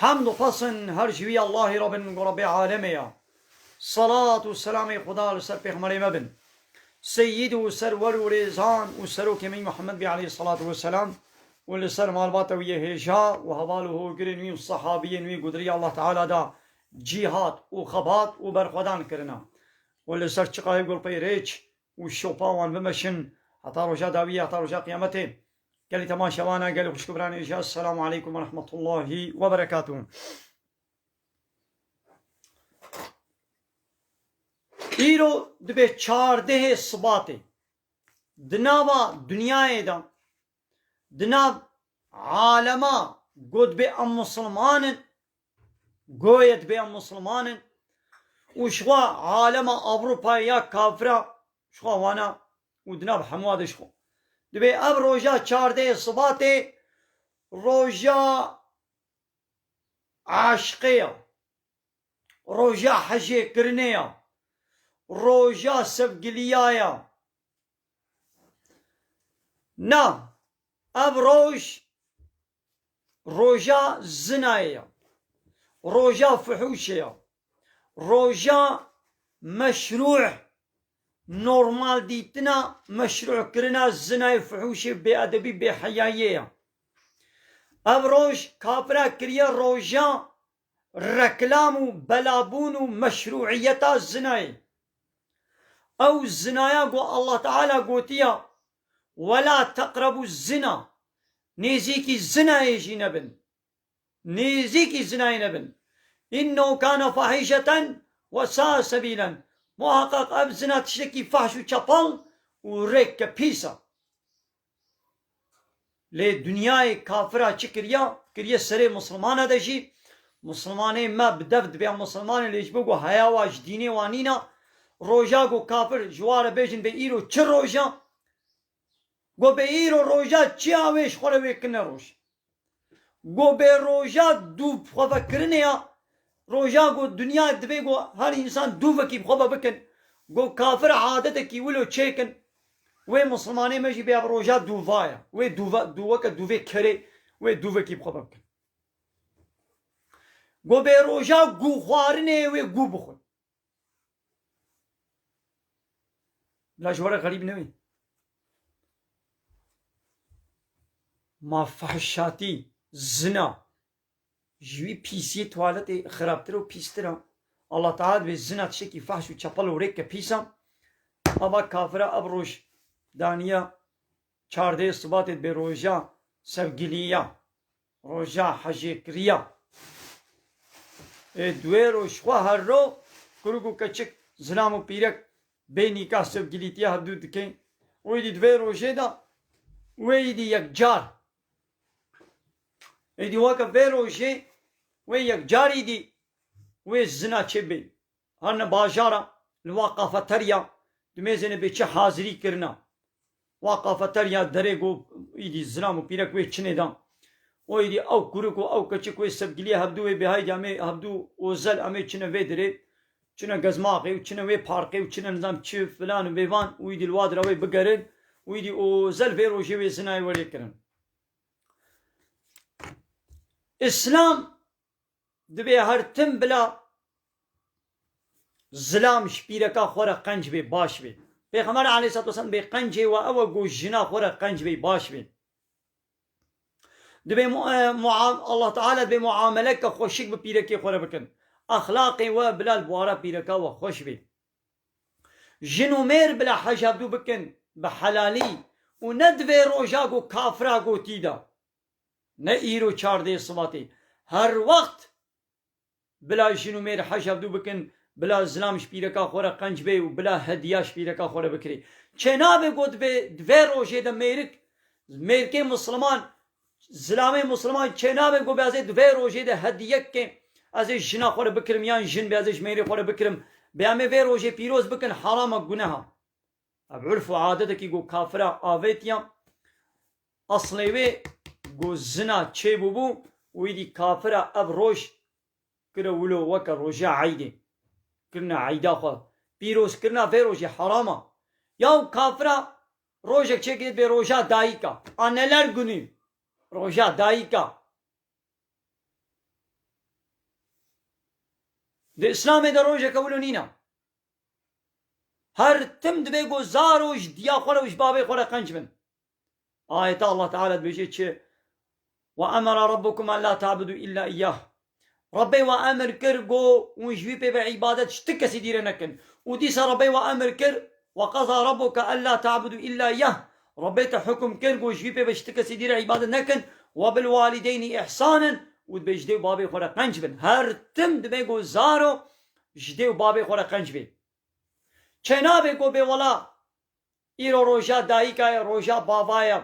Hamd û xwesin her ji wî Allahê re bin ku Rebê alemê ye. Selat û selamê Xuda li ser Pêxemberê me bin. Seyyîd û serwer û rêzan û serokê me Muhammed bê aleyh selatû we selam û li ser malbata wî yê hêja û heval û hogirên wî û sehabiyên wî ku di riya Allah Teala de cîhat û xebat û berxwedan kirine û li ser çiqayê gulpey rêç û şopa wan bimeşin heta roja dawiyê, heta roja qiyametê. Gelê te man şevan e, gelê xwişk û biranê jî Esselamu aleykum ve rehmetullahî ve berekatû. Îro dibê çardehê sibatê di nava dinyayê de di nav alema got dibê em Musilman in, goye dibê em Musilman in û ji xwe alema Ewropayê ya kafir a ji xwe wana û di nav hemû a de ji xwe dibê ev roja çardeyê Sibatê roja eşqê ya, roja hijêkirinê ya, roja sevgiliya ya. Na, ev roj roja zinayê ye, roja fihûşê ye, roja meşrû normaldîtina meşrûkirina zinayê fihûşê bêedebî bêheyayiyê ye. Ev roj kafira kiriye roja reklam û belabûn û meşrûîyeta zinayê. Ew zinaya ku Allah Teala gotiya, Wela teqrebû zina, nêzîkî zinayê jî nebin, nêzîkî zinayê nebin, innehu kane fahîşeten we saa sebîlen, muheqeq ev zina tiştekî fahş û çepal û rêk ke pîs e. Lê dinyayê kafira çi kiriya, kiriye serê misilmane de jî, misilmanê me bi dev dibe ya misilmane lê ji bo ku heya wa ji dînê wa nîna, roja ku kafir ji wa re bêjin bê îro çi roja, ku bê îro roja çiya wê ji xwe re wê kirine roj. Ku bi roja dû bi xwe ve kirinê ya, roja ku dinya divê ku her însan dû vekî bi xwe ve bikin, ku kafir adetekî wilo çêkin, wê Mislimanê me jî bêya bi roja dû va ya. Wê dû ve dû weke dû vê kerê wê dû vekî bi xwe ve bikin. Ku bi roja gû xwarinê wê gû bixwin. La ji we re xerîb newî. Ma fahişatî, zina ji wî pîsiyê tuwaletê xirabtir û pîstir e. Allah Teala divê zina tiştekî fahş û çepel û rêk ke pîs e. Ava kafira ev roj daniya çardeyê sibatê bê roja sevgiliya. Roja hejêkiriya ê duê roj xwe her ro kuruk û keçik, zilam û pîrek bê nîkah sevgilîtiya hev dû dikên û êdî di vê rojê de wê êdî yekcar êdî weke vê rojê wê yekcar êdî wê zina çê bên. Xanine bajara li va kafeterya di mêzêne bê çi hazirî kirina. Va kafeterya derê ku îdî zilam û pîrek wê çinê da û îdî ew kurik û ew keçik wê sevgiliyê hevdu wê bê heydî amê hevdu ozel amê çine vê derê çine gezmaxê û çine wê parkê û çine nizam çi filan û bêvan û îdî li wa dira wê bigerin û îdî ozel vê rojê wê zinayê welê kirin. Îslam Divê her tim bila zilam ji pîreka xwe re qenc bê, baş bê. Pêxember aleyhissalatu vesselam divê qencê we ew e ku jina xwe re qenc bê, baş bê. Divê Allah Teala divê muameleke xweşik bi pîrekê xwe re bikin. Exlaqê we bila li bara pîreka we xweş bê. Jin û mêr bila hejabdû bikin bi helalî û ne di vê roja ku kafira gotî de. Ne îro çardê sivatê. Her wext bila jin û mêr hej hevdû bikin, bila zilam ji pîreka xwe re qenc bê û bila hediya ji pîreka xwe re bikirê. Çênabe got bê di vê rojê de mêrik, mêrikê misliman, zilamê misliman çênabe got bê ez ê di vê rojê de hediyekê ez ê jina xwe re bikirim yan jin bê ez ê ji mêrê xwe re bikirim. Bê em ê vê rojê pîroz bikin, heram e, guneha. Ev urf û adetekî ku kafira avêtiya, eslê wê ku zina çêbûbû û êdî kafira ev roj kire wilo weke roja eydê. Kirina eyda xwe pîroz kirina vê rojê heram a. Ya û kafira rojek çêkirêt bê roja dayika. Anneler Günü, Roja Dayika. Di Îslamê de rojeke wilo nîna. Her tim divê ku zaro ji diya xwe re û ji bavê xwe re qenc bin. Ayeta Allah Teala dibêje çi? Wa emera Rabbukum en la ta'budu illa iyyah. Rabbê we emir kir ku hûn ji wî pê ve îbadet ji ti kesî dî re nekin. Û dîsa Rabbê we emir kir, Wa qeza Rabbuke en la ta'budu illa iyyah, Rabbê te hukm kir ku ji wî pê ve ji ti kesî dî re îbadet nekin, Wa bil walideynî ihsanen û dibê ji dê û bavê xwe re qenc bin. Her tim divê ku zaro Ji dê û bavê xwe re qenc bê. Çênavê ku bê wela îro roja dayîka ye, roja bava ye.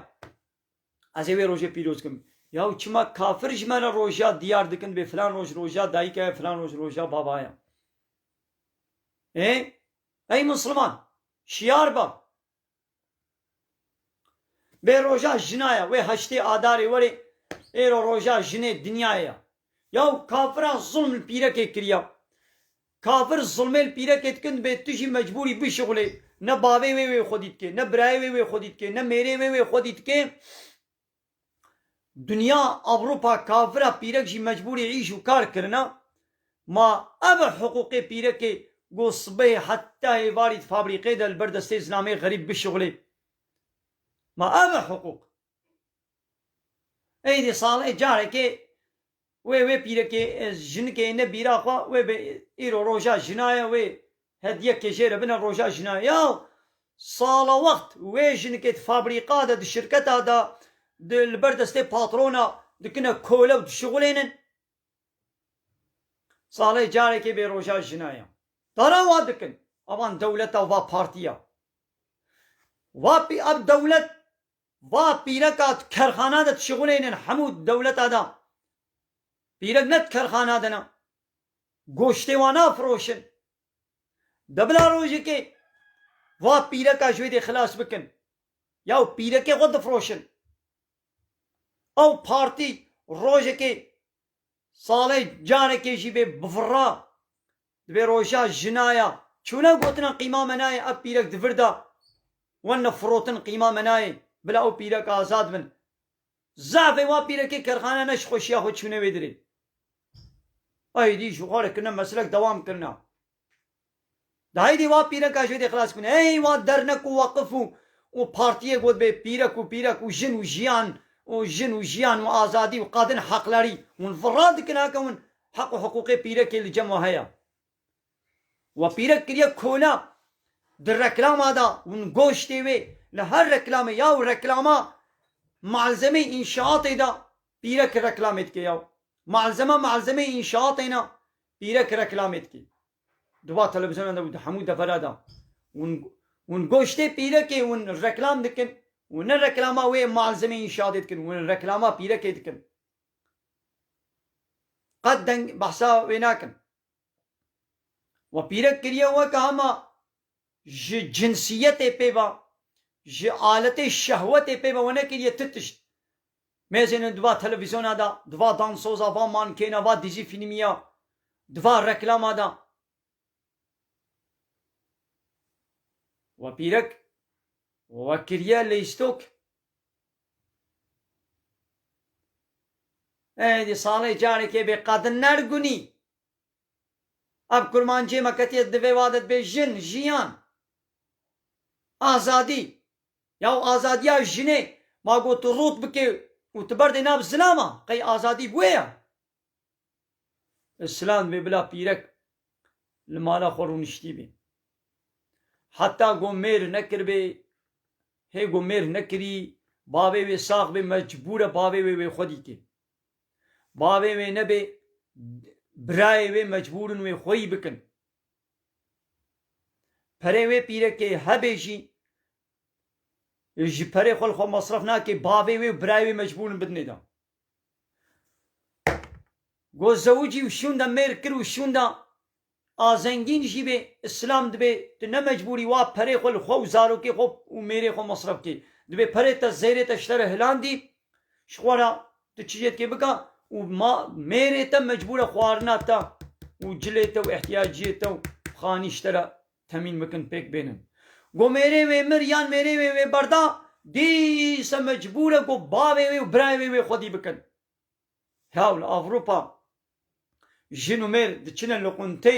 Ez ê wê rojê pîroz kim. Yaw çima kafir ji me re roja diyar dikin bê filan roj roja dayîka ye, filan roj roja bava ye. Ê, ey misliman, şiyar be. Bê roja jina ye wê heştê adarê werê êro roja jinê dinyayê ye. Yaw kafiran zulm li pîrekê kiriya. Kafir zulmê li pîrekê dikin dibê tu jî mecbûrî bişixulê. Ne bavê wê wê xwedî dikê, ne birayê wê wê xwedî dikê, ne mêrê wê wê xwedî dikê. Dinya, Ewropa, kafira pîrek jî mecbûrê îş û kar kirina. Ma ev e hiqûqê pîrekê ku sibehê heta êvarî di fabrîqê de li ber destê zilamê xerîb bişuxulê. Ma ev e hiqûq. Êdî sal e carekê Wê wê pîrekê jinikê ne bîra xwe wê be îro roja jina ye wê hediye ke jê re bine roja jina ye. Ya sala wext wê jinikê di fabrîka de di şirketa de di li ber destê patrona dikine kole û dişixulênin salê carekê bê roja jina ye. Dana wa dikin a van dewleta û va partiya. Va pî ev dewlet Va pîreka tu kerxana de dişixuleynin hemû dewleta de pîrek ne tu kerxana de ne goştê wan nafiroşin de bila rojekê va pîreka ji wê dê xilas bikin ya û pîrekê xwe difiroşin ew partî rojekê salê carekê jî bê bifira Divê roja jina ya. Çûna gotina qîma me nayê ev pîrek di vir de wen ne firotin qîma me nayê bila ew pîrek azad bin. Zefê wan pîrekê kerxane ne ji xweşiya xwe çûne wê dirê. Eydî ji xwe re kirine meslek dewam kirine. Di heydê wan pîreka ji wê dê xilas bine. Hey wan dernek û weqif û û partiyê got bê pîrek û pîrek û jin û jiyan û jin û jiyan û azadî û qadin heqlerî. Hûn virra dikin heke hûn Heq û hiqûqê pîrekê li cem we heye. We pîrek kiriye kole. Di reklama de hûn goştê wê li her reklamê ya û reklama malzemeyê înşaatê de pîrek reklamê dike ya. Malzeme malzemeyê înşaatê ne pîrek reklamê dike. Di va televîzyonan de û di hemû devera de hûn hûn goştê pîrekê hûn reklam dikin. Hûn ne reklama wê malzemeyê înşaatê dikin, hûn reklama pîrekê dikin. Qet deng behsa wê nakim. We pîrek kiriye weke hema ji cinsiyetê pê ve, ji aletê şehwetê pê ve we nekiriye ti tişt. Mêzên in di va televîzyona de, di va dansoza, va mankêna, va dizî fîlmiya, di va reklama de. We pîrek we kiriye lîstok. Ey di salê carekê bê qad nergunî. Ev kurmancê me ketiye divê wa de dibê jin, jiyan, azadî. Ya û azadiya jinê ma got tu rot bikê û tu berdê nav zilama qey azadî wê ya. Ez şiland bê bila pîrek li mala xwe rûniştî bê. Heta ku mêr nekiribê, hê ku mêr nekirî, bavê wê sax bê mecbûr e bavê wê wê xwe dîtê. Bavê wê nebê, birayê wê mecbûr in wê xweyî bikin. Perê wê pîrekê hebê jî, ji perê xwe li xwe mesref nake, bavê wê û birayê wê mecbûr in bidinê dan. Go zewicî û şûnda mêr kir û şûnda a zengîn jî bê, îslam dibê tu ne mecbûrî wa perê xwe li xwe û zarokê xwe û mêrê xwe mesref bikî. Dibê perê te zêrê te ji te re hilandî ji xwe re tu çije dikê bike û ma mêrê te mecbûr e xwarina te û cilê te û îhtiyaciyê te û xanî ji te re Temîn bikin pêk bênin. Got mêrê wê mir yan mêrê wê wê berda, dîsa mecbûr e ku bavê wê û birayê wê wê xwedî bikin. Hew li Ewropa jin û mêr diçine li quntê,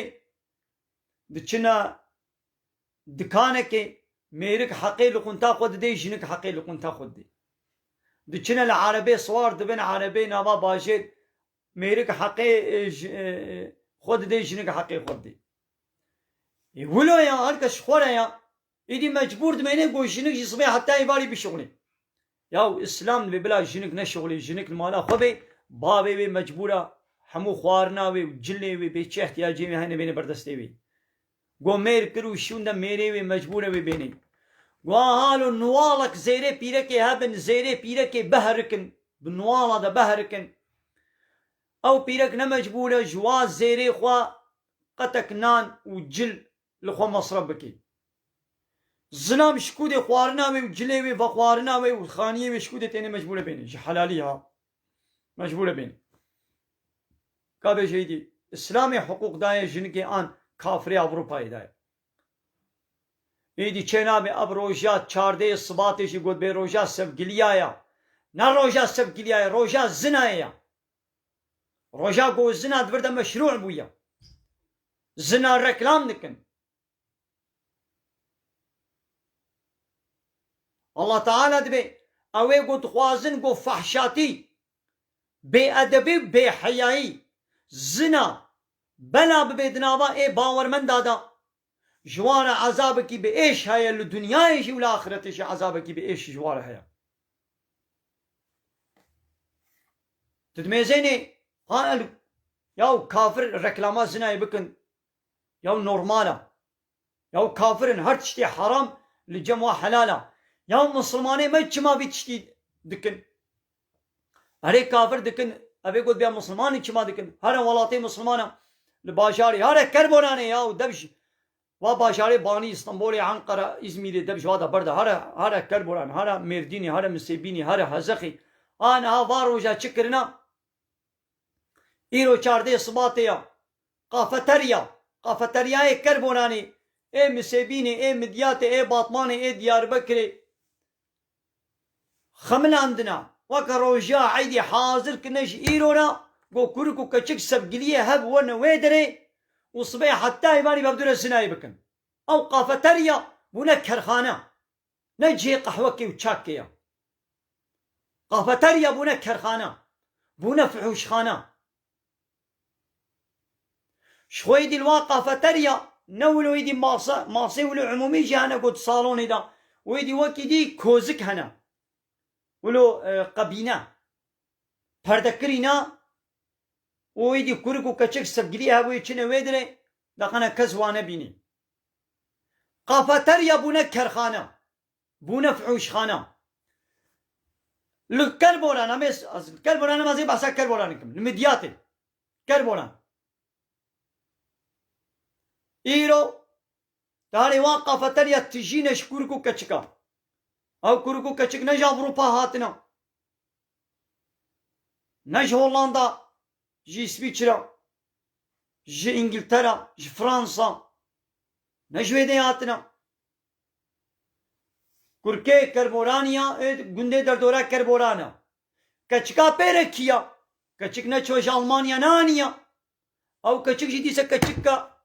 diçine dikanekê, mêrik heqê li qunta xwe didê, jinik heqê li qunta xwe didê. Diçine li erebê siwar dibin, erebê nava bajêr mêrik heqê xwe didê jinik heqê xwe didê. Ê wilo ya her kes ji xwe re ya êdî mecbûr dimêne ku jinik ji sibê heta êvarê bişuxulê. Yaw îslam divê bila jinik neşuxulê jinik li mala xwe bê bavê wê mecbûra hemû xwarina wê û cilê wê bê çi ihtiyacê wê hene bêne berdestê wê. Go mêr kir û şûnde mêrê wê mecbûre wê bênê. Go a halo nuwalek zêrê pîrekê hebin zêrê pîrekê biherikin bi nuwala de biherikin. Ew pîrek ne mecbûre ji wa zêrê xwe qetek nan û cil li xwe mesref bike. Zilam şikûdê xwarina wê û cilê wê vexwarina wê û xaniyê wê şikûdê têne mecbûre bêne ji helalî ha. Mecbûre bênî. Ka bêje îdî Îslamê hiqûq daye jinikê an kafirê Ewropayê daye. Îdî çênabê ev roja çardeyê sibatê jî gotbê roja sevgiliya ya. Ne roja sevgiliya ye, roja zina ye ya. Roja ku zina di vir de meşrû bûye. Zina reklam dikin. Allah Teala dibe ew ê ku dixwazin ku fehşatî, bêedebî û bêheyayî, zina, bela bibe di nava ê bawermenda de. Ji wan re ezabekî bi êş heye li dinyayê jî û li axiretê jî ezabekî bi êş ji wan re heye. Didmêzênê, ha el ya û kafir reklama zinayê bikin yaw normal a, yaw kafir in her tiştê heram li cem wan helal a, yaw misilmanê me çima vî tiştî dikin? Erê kafir dikin evê got bêya misilman in çima dikin? Here welatê misilman a li bajarê here kerboranê yaw dev ji va bajarê banî Istanbolê Enqera Îzmîrê dev ji va de berda here here kerboran here mêrdînê here misêbînê here hezexê a niha va roja çi kirina Îro çardê Sibatê ya. Kafeterya, kafeteryayê Kerboranê ê Misêbînê ê Midyatê ê Batmanê ê Diyarbekirê xemilandina. Weke roja eydê hazir kirine ji îro re ku kurik û keçik sevgiliyê hev wene wê derê û sibê heta îvanî bevdûre sinayê bikin. Ew kafeterya bûne kerxane. Ne cihê qehwekê û çakê ye. Kafeterya bûne kerxane, bûne fihûşxane. Ji xwe êdî li wan kafeterya ne wilo êdî mase, masê wilo umûmî jî hene ku di salonê de û êdî wekî dî kozik hene. Wilo qebîne, perdekirî ne û êdî kurik û keçik sevgiliyê hebûyê çine wê dirê, deqene kes wane bînî. Kafeterya bûne kerxane, bûne fihûşxane. Li Kelboran em ê ez li Kelboranê me ez ê behsa Kelboranê bikim, li Midyatê, Kelboran. Îro tarê wan kafeterya tijî ne ji kûrik û keçik a. Ew kûrik û keçik ne ji Ewropa hatine, ne ji Hollanda. Ji Îswîçra, ji Îngiltera, ji Fransa ne ji wê dê hatine. Kurkê Kerboranî ya ê gundê derdora Kerboran e. Keçika pê re kî ya? Keçik neçû ji Almanya ne anîya. Ew keçik jî dîse keçika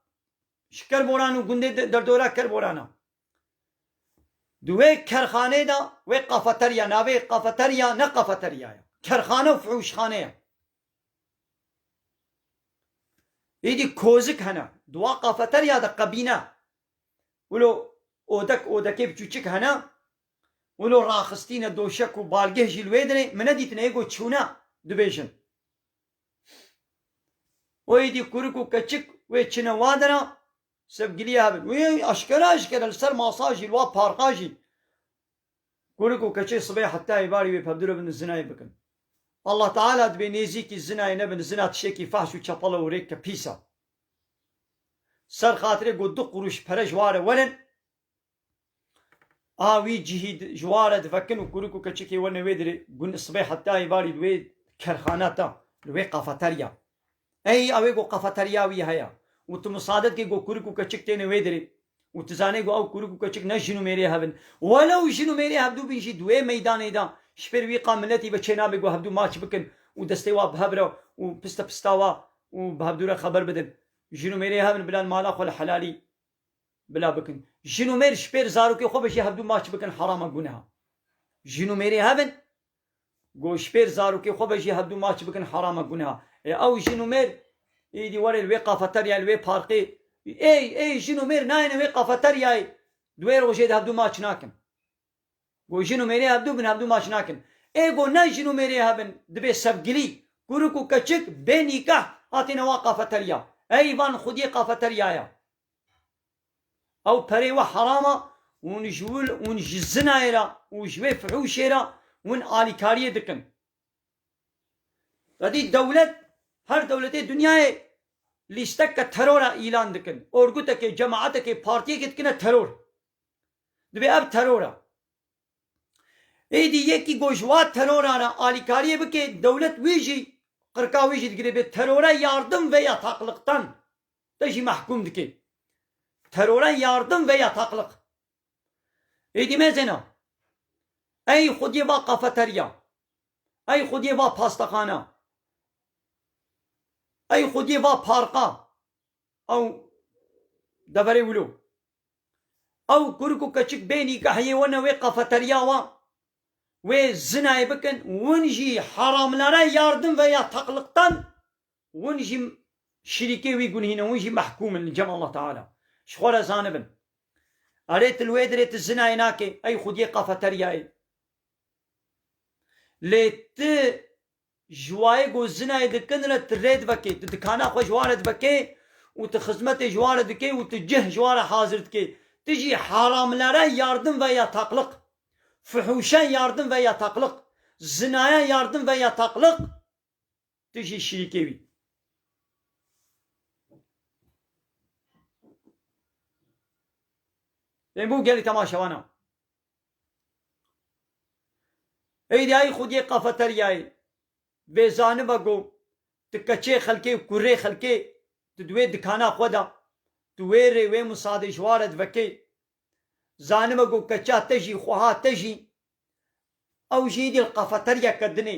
ji Kerboran û gundê derdora Kerboran e. Di wê kerxanê de wê kafeterya navê kafeterya ne kafeterya ye. Kerxane û fihûşxane ye. Êdî kozik hene, di wan qafeterya de qebîne. Wilo odek odekê biçûçik hene, wilo raxistîne doşek û balgeh jî li wê dinê, min nedîtine yê ku çûne dibêjin. Û êdî kurik û keçik wê çine wan de ne, sevgiliye hebin. Wê eşkere eşkere li ser masa jî, li wan parka jî Kurê ku keçê sibê heta êvarê wê pevdûre bi nizî nayê bikin. Allah Teala dibê nêzîkî zinayê nebin zina tişekî fahş û çepel e û rêk ke pîs e. Ser xatirê ku du qurûş pere ji ware werin a wî cihî ji ware divekin û kurê ku keçikê we ne wê dirê gund sibê heta êvarî li wê kerxane ta, li wê kafeterya, Ey awê ku qefeterya wî heye û tu misadet kî ku kurik û keçik têne wê dirê û tu zanê ku ew kurik û keçik ne jin û mêrê hev in. Welew jin û mêrê hevdû bin jî di wê meydanê de ji fêr wî qal miletî ve çênabê ku hevdû maç bikin û destê wa bi hev re û piste pista wa û bi hevdû re xeber bidin. Jin û mêrê hev in bila li mala xwe li helalî bila bikin. Jin û mêr ji fêr zarokê xwe ve jî hevdû maç bikin herama guneha. Jin û mêrê hev in. Goşpêr zarokê xwe ve jî hevdu maç bikin heram e guneha. Ê ew jin û mêr êdî were li wê qafeteryayê li wê parkê êy êy jin û mêr nayêne wê qafeteryayê di wê rojê de hevdu maç nakin. Go jin û mêrê hevdu bin hevdu maç nakin. Ê go ne jin û mêrê hebin dibê sevgilî, kurik û keçik bê nîkeh hatêne wa qafeterya. Êy van xwediyê qafeteryaya. Ew perê we heram a ûn ji wil ûn ji zinayê re û ji wê fihûşê re hûn alîkariyê dikin. Xwedî dewlet, her dewletê dinyayê lîsteke teror a îlan dikin. Orgutekê, cemaetekê, partiyekê dikine teror. Divê ev teror a. Êdî yekî ku ji wa teroran re alîkariyê bike dewlet wî jî qirka wî jî digire bê terore yardim ve ya taqliqtan. te jî mehkûm dike. Terore yardim ve ya taqliq. Êdî mêzêna. Ey xwediyê va kafeterya. Ey xwediyê va pastaxana. Ey xwediyê va parka. Ew deverê wilo. Ew kurik û keçik bê nîgah yê wene wê kafeterya wa wê zinayê bikin. Win jî haramlere yardim ve ya taqliqtan Hûn jî şirîkê wî gunhî ne, hûn jî mehkûm in li cem Allah Teala. Ji xwe re zanibin. Erê tu li wê dirê tu zinayê nakê, ey xwediyê qafeteryayê. Lê tu ji wayê ku zinayê dikin re tu rê divekê, tu dikana xwe ji wan re divekê û tu xizmetê ji wan re dikê û tu cih ji wan re hazir dikê. Tu jî haramlere yardim ve ya taqliq, fuhûşe yardim ve ya taqliq, zinaye yardim ve ya taqliq. Tu jî şirîkê wî. Em bu gelî temaşevan e. Eydiyayî xwediyê kafeteryayê vê zaniba ku tu keçê xelkê û kurê xelkê tu di wê dikana xwe de tu wê rê wê misadê ji ware divekê. Zaniba ku keça te jî xweha te jî ew jî êdî li kafeteryeke din ê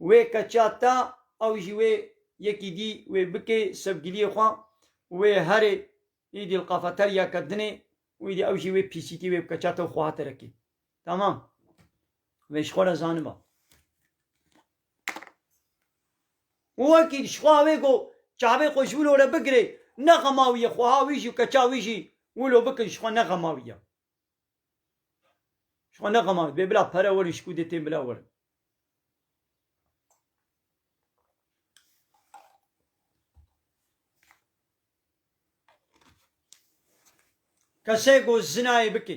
Wê qeça ta ew jî wê yekî dî wê bikê sevgiliyê xwe wê herê îdî li qafeteryake dinê û îdî ew jî wê pîsîtî wê bi qeça te û xwe hate rekê. Tamam. Vê ji xwe re zaniba. Û wekî ji xwe wê got çavê xwe ji wilo re bigirê, nexema wî ye xweha wî jî û qeça wî jî wilo bikin ji xwe nexema wî ye. Ji xwe nexemar, bê bila pere werin ji ku dê tên bila werin. Kesê ku zinayê bike,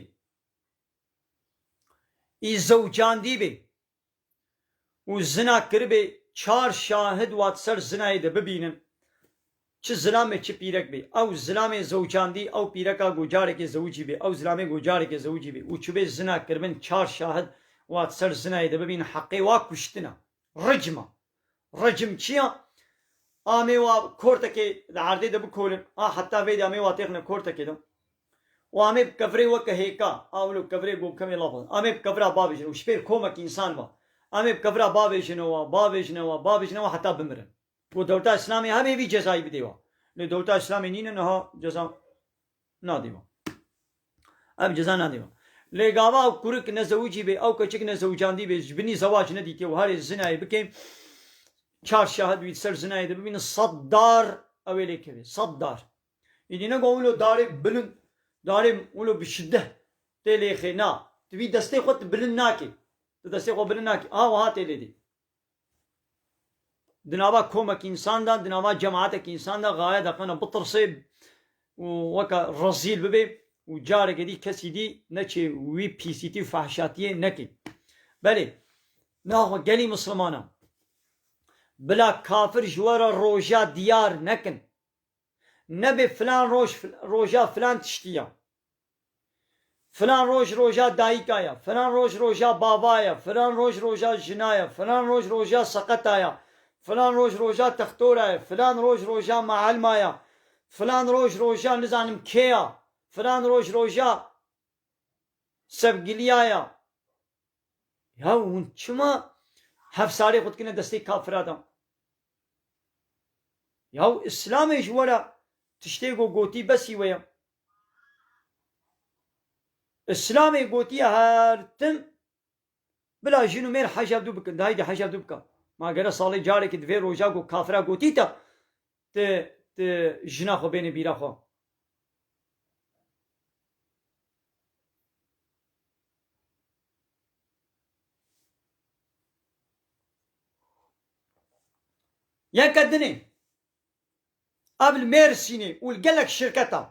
î zewcandî bê, û zina kiribê çar şahid wat ser zinayê de bibînin çi zilamê çi pîrek bê ew zilamê zewcandî ew pîreka ku carekê zewicî bê ew zilamê ku carekê zewicî bê û çibê zina kiribin çar şahid wat ser zinayê de bibînin heqê wa kuştina, ricma. Rejimçiya amê wa kortekê di erdê de bikolin a heta vê de amê wa têxine kortekê de û amê bi kevirê weke hêka a wilo kevirê ku kemê laf dixwin amê bi kevira bavêjin û ji pêr komek însan be amê bi kevira bavêjinewa, bavêjinewa, bavêjinewa heta bimirin. Ku dewleta îslamê hebê vî cezayî bidê wa. Lê dewleta îslamê nîne niha ceza. Nadîma. Ev ceza nadîma. Lê gava ew kurik nezewicî bê, ew keçik nezewicandî bê, ji binî zewac nedîtiye û herê zinayê bike, çar şahid wî di ser zinayê de bibîne, sed dar ew ê lê keve. Sed dar. Îdî ne got wilo darê bilind, darê wilo bi şiddet tê lê xê. Na. Tu vî destê xwe tu bilind nakî. Tu destê xwe bilind nakî. Ha wiha tê lê dî. di nava komek insan de, di nava cematek insan de gaye daqena bitirsê û weke rezîl bibe û careke dî kesî dî neçê wî pîsîtî û fehşatiyê neke. Belê, naxwe gelî mislimanan bila kafir ji we re roja diyar nekin. Nebê filan roj roja filan tiştî ya. Filan roj roja dayika ye, filan roj roja bava ye, filan roj roja jina ye, filan roj roja seqeta ye, filan roj roja textora ye, filan roj roja meelma ye, filan roj roja nizanim kê ye, filan roj roja sevgiliya ye. Ya hûn çima hevsarê xwe dikine destê kafira de? Ya îslamê ji we re tiştê ku gotî besî wê ye. Îslamê gotiye her tim bila jin û mêr hejab dû bikin, dayîkî hejab dû bika. Ma gere salê carekî di vê roja ku kafira gotî ta ti ti jina xwe bênê bîra xwe. Yeke dinê. Ev li Mêrsînê û li gelek şirketan.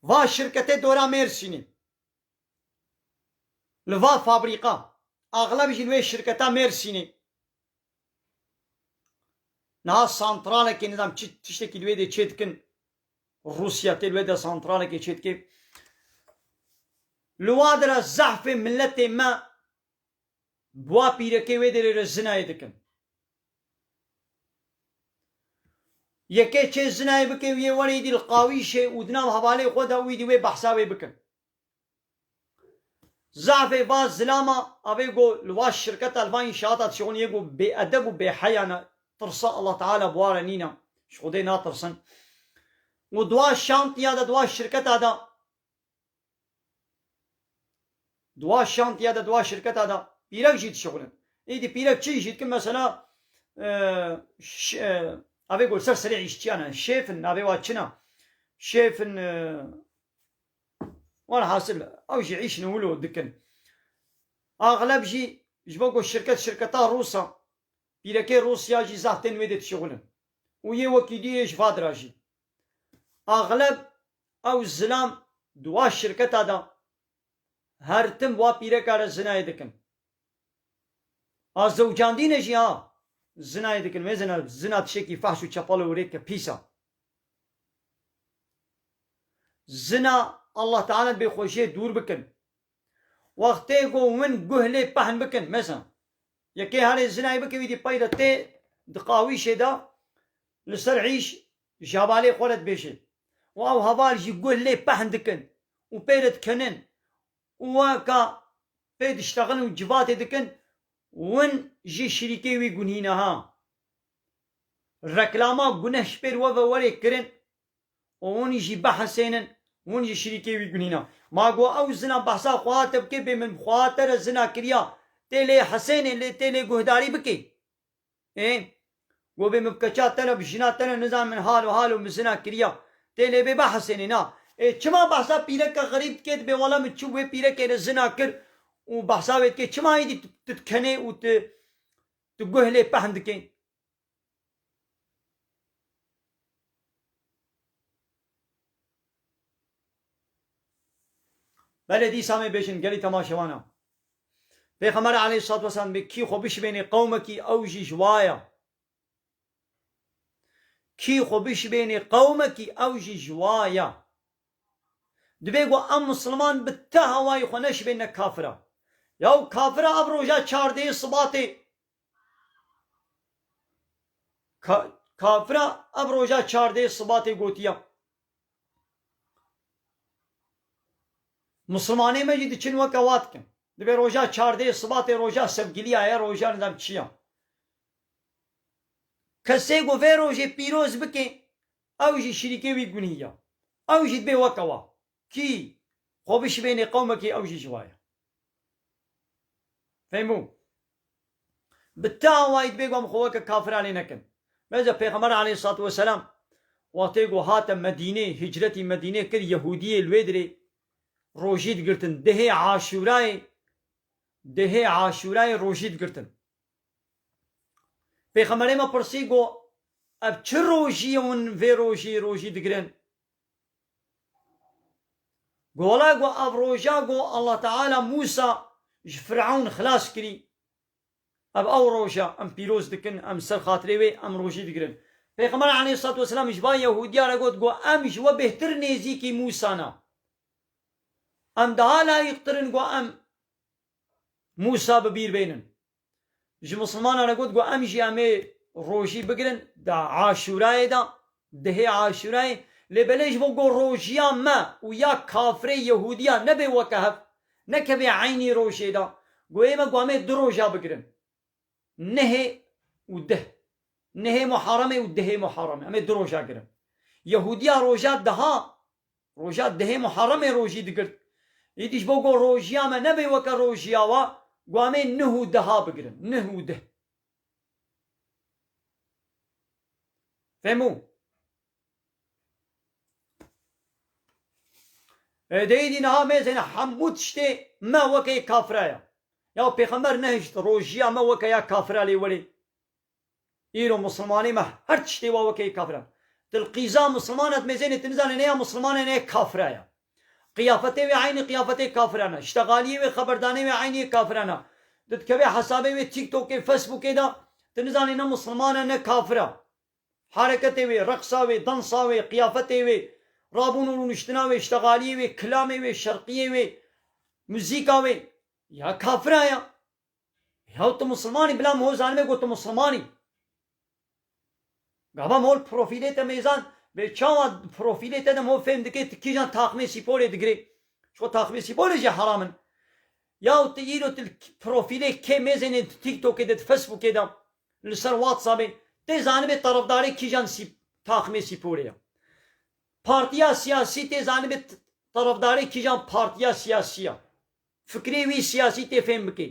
Va şirketê dora Mêrsînê. Li va fabrîkan, axleb jî li wê şirketa Mêrsînê. Niha santralekê nizam çi tiştekî li wê dê çê dikin. Rûsya tê li wê de santralekê çê dike. Li wa de re zehfê miletê me Bua pîrekê wê derê re zinayê dikin. Yekê çê zinayê bike û yê were îdî li qawîşê û di nav hevalê xwe de û îdî wê behsa wê bikin. Zehfê va zilama avê go li va şirketa li va înşaata dişixûn yê go bêedeb û bêheya ne, tirsa Allah Teala bi wa re nîn e, ji Xwedê natirsin û di wa şantiya de di wa şirketa de Dua şantiya de dua şirketa de pîrek jî dişixulin. Êdî pîrek çi îş dikin mesela avê got ser serê îşçiyan e. Şêf in navê wa çin e. Şêf in wan hasil ew jî îş in wilo dikin. Axleb jî ji bo ku şirket şirketa Rûs e. Pîrekê Rûs ya jî zaf tên wê dê dişixulin. Û yê wekî duyê ji vadira jî. Axleb Ew zilam dua şirketa da. Her tim wa pîreka re zinayê dikin. A zewcandîne jî ha zinayê dikin. Wê zina, zina tişekî fahş û çepal û rêk e, pîs a. Zina Allah Teala bê xweşiyê dûr bikin. Wextê ku win guh lê pehn bikin, mesela yekê herê zinayê bike wî dî peyda tê di qawîşê da li ser îş Tu şabalê xwe re dibêjin û ew heval jî guh lê pehn dikin û pê re dikenin û weka pê diştexin û civatê dikin win ji şirîkê wî gunîne ha. Reklama guneh ji pêr we ve were kirin û win jî bihesênin win ji şirîkê wî gunîne. Ma got ew zina behsa xweha te bike bê min bi xweha te re zina kiriya tê lê hesênê lê tê lê guhdarî bikê. Ê, go vê mivkeça te ne bi jina te ne nizanim min hal û hal û mizina kiriya. Tê lê bê behsê nê na. Ê, çima behsa pîreke xerîb dikê dibê wala min çû wê pîrekê ne zina kir û behsa wê dikê çima êdî tu tu dikenê û tu tu guh lê pehm dikê. Belê dîsa mê bêjin gelî temaşewan a. Pêxember aleyhissalatu vesselam dibê kî xwe bişibênê qewmekî ew jî ji wa ye. Kî xwe bişibênê qewmekî ew jî ji wa ye. Dibê ku em misilman bi ti hewayî xwe neşibênine kafira. Ya û kafira ev roja çardehê sibatê Ka, kafira ev roja çardehê sibatê gotiye Muslimanê me jî diçin weke wa dikin. Dibe roja çardeyê siba tê roja sevgiliya ye, roja nizam çi ya. Kesê ku vê rojê pîroz bike ew jî şirîkê wî gunî ya. Ew jî dibe weke wa. Kî xwe bişibênê qewmekî ew jî ji wa ye. Fêhm bû? Bi te awayî divê ku em xwe weke kafiran lê nekin. Bence Pêxember aleyhissalatu vesselam wextê ku hate Medînê, hicretî Medînê kir, Yehûdiyê li wê dirê rojî digirtin. Dihê Aşûrayê, dihê Aşûrayê rojî digirtin. Pêxemberê me pirsî ku ev çi rojî ye hûn vê rojî rojî digirin? Gola ku ev roja ku Allah Teala Mûsa ji Firewn xilas kirî, ev ew roja em pîroz dikin, em ser xatirê wê em rojî digirin. Pêxember aleyhîssalatu wesselam ji van Yehûdiyan re got ku em ji we bêhtir nêzîkî Mûsa ne. Em daha layîqtir in ku em Mûsa bi bîr bênin. Ji misilmanan re got ku em jî em ê rojî bigirin di aşûrayê de, di hê aşûrayê, lê belê ji bo ku rojiya me û ya kafirê yehûdiya nebe weke hev, nekeve eynî rojê de, goyê me ku em ê du roja bigirin, nihê û dih, nihê muharemê û dihê muharemê, em ê du roja girin. Yehûdiya roja diha Roja dehê Muharemê rojî digirt. Îdî ji bo ku rojiya me nebê weke rojiya we, guamê nuh û deha bigirin. Nuh û deh. Fêm bû? E dê îdî niha mêzene hemû tiştê me weke yê kafira ye. Ya pêxember nehişt rojiya me weke ya kafira lê welê Îro musulmanê me her tiştê wa wekeyê kafir e. Dilqîza musulman e di mêzê nê tu nizanê nê ya musulman e nê ya kafir e ya. Qiyafetê wê eynî qiyafetê kafiran e. Ştegaliyê wê xeberdanê wê eynî yê kafiran e. Tu dikevê hesabê wê TikTokê, Facebookê de tu nizanê ne musulman e ne kafir e. Hereketê wê, reqsa wê, dansa wê, qiyafetê wê, rabûn û rûniştina wê, ştegaliyê wê, kilamê wê, şerqiyê wê, muzîka wê ya kafir e ya. Yaw tu musliman î bila mol zanibê ku tu musliman î. Gava mol profîlê te mêzan bê çawa di profîlê te de mol fêm dike tu kîjan taxmê sîpolê digirê. Ji xwe taxmê sîpolê jî heram in. Yaw tu îro tu li profîlê kê mêzenê di tîktokê de di fesbûkê de li ser watsabê tê zanibê terefdarê kîjan taxmê sîpolê ye. Partiya siyasî tê zanibê terefdarê kîjan partiya siyasî ye. Fikrê wî siyasî tê fêm bike.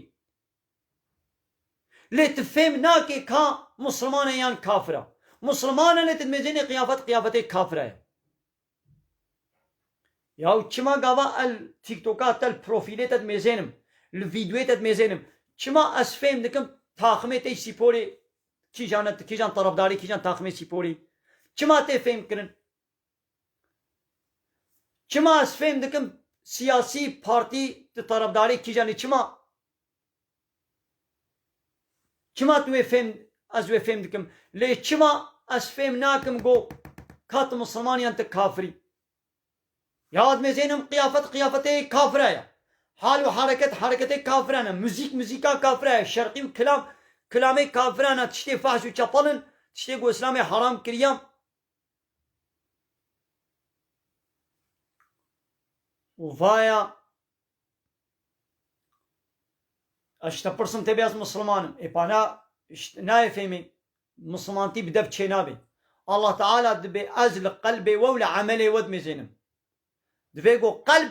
Lê tu fêm nake ka Musliman e yan kafir a. Musliman e lê tu dimêjênê qiyafet qiyafetê kafira ye. Yaw çima gava el tiktoka te li profîlê te dimêjênim, li vîdyoyê te dimêjênim. Çima ez fêm dikim taximê te yî sîporê kîjan e, tu kîjan tarafdarê kîjan taximê sîporê yî. Çima tê fêmkirin. Çima ez fêm dikim siyasî partî tu tarafdarê kîjan î çima? Çima tu wê fêm ez wê fêm dikim lê çima ez fêm nakim go ka tu misilman yan tu kafir î? Ya ez mêzênim qiyafet qiyafetê kafira ya. Hal û hereket hereketê kafiran e. Muzîk muzîka kafira ya. Şerqî û kilam kilamê kafiran e. Tiştê fahş û çepal in. Tiştê ku îslamê heram kiriya. û vaya Ez ji te pirsim tê bê ez Misliman im. Ê pana nayê fêmê Mislimantî bi dev çênabê. Allah Teala dibê ez li qelbê we û li emelê we dimêzênim. Divê ku qelb